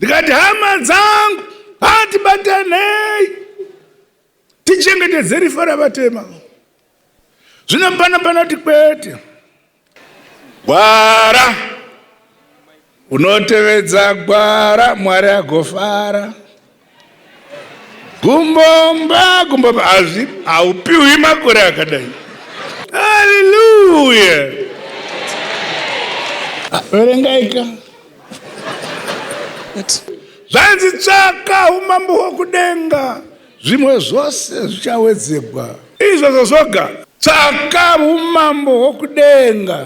ndikati hama dzangu hatibatanei tichengetedze rifa ravatema zvino pana panoti kwete gwara unotevedza gwara mwari agofara gumbomba gumbomba hazvi haupiwi makore akadai haleluya verengaika zvanzi tsvaka umambo hwokudenga zvimwe zvose zvichawedzegwa izvozvo zvoga tsvaka umambo hwokudenga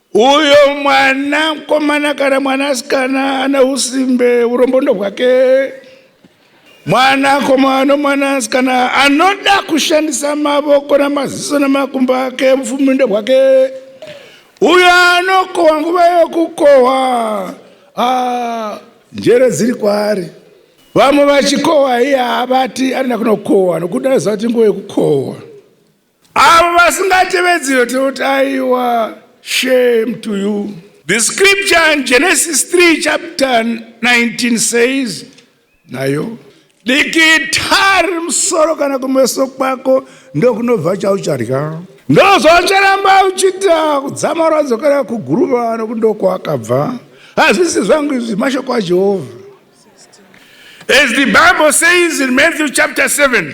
Uyo mwana mkomana kana mwana asikana ane usimbe urombo ndohwake. Mwana komana mwana asikana anoda kushandisa mavoko namaziso nemakumbo ake mfumi ndohwake. Uyo anokohwa nguva yokukohwa ah, njere dziri kwaari. Vamwe vachikohwa iye havati anoda kunokohwa nokuti anoziva kuti nguva yokukohwa. Avo vasingatevedzi yototi aiwa shame to you. The scripture in Genesis 3 chapter 19 says nayo dikitari musoro kana kumeso kwako ndokunobva chauchadya ndozvaucharamba uchita kudzama rwadzokera kuguruva nokuti ndokwakabva hazvisi zvangu izvi mashoko ajehovha as the bible says in matthew chapter 7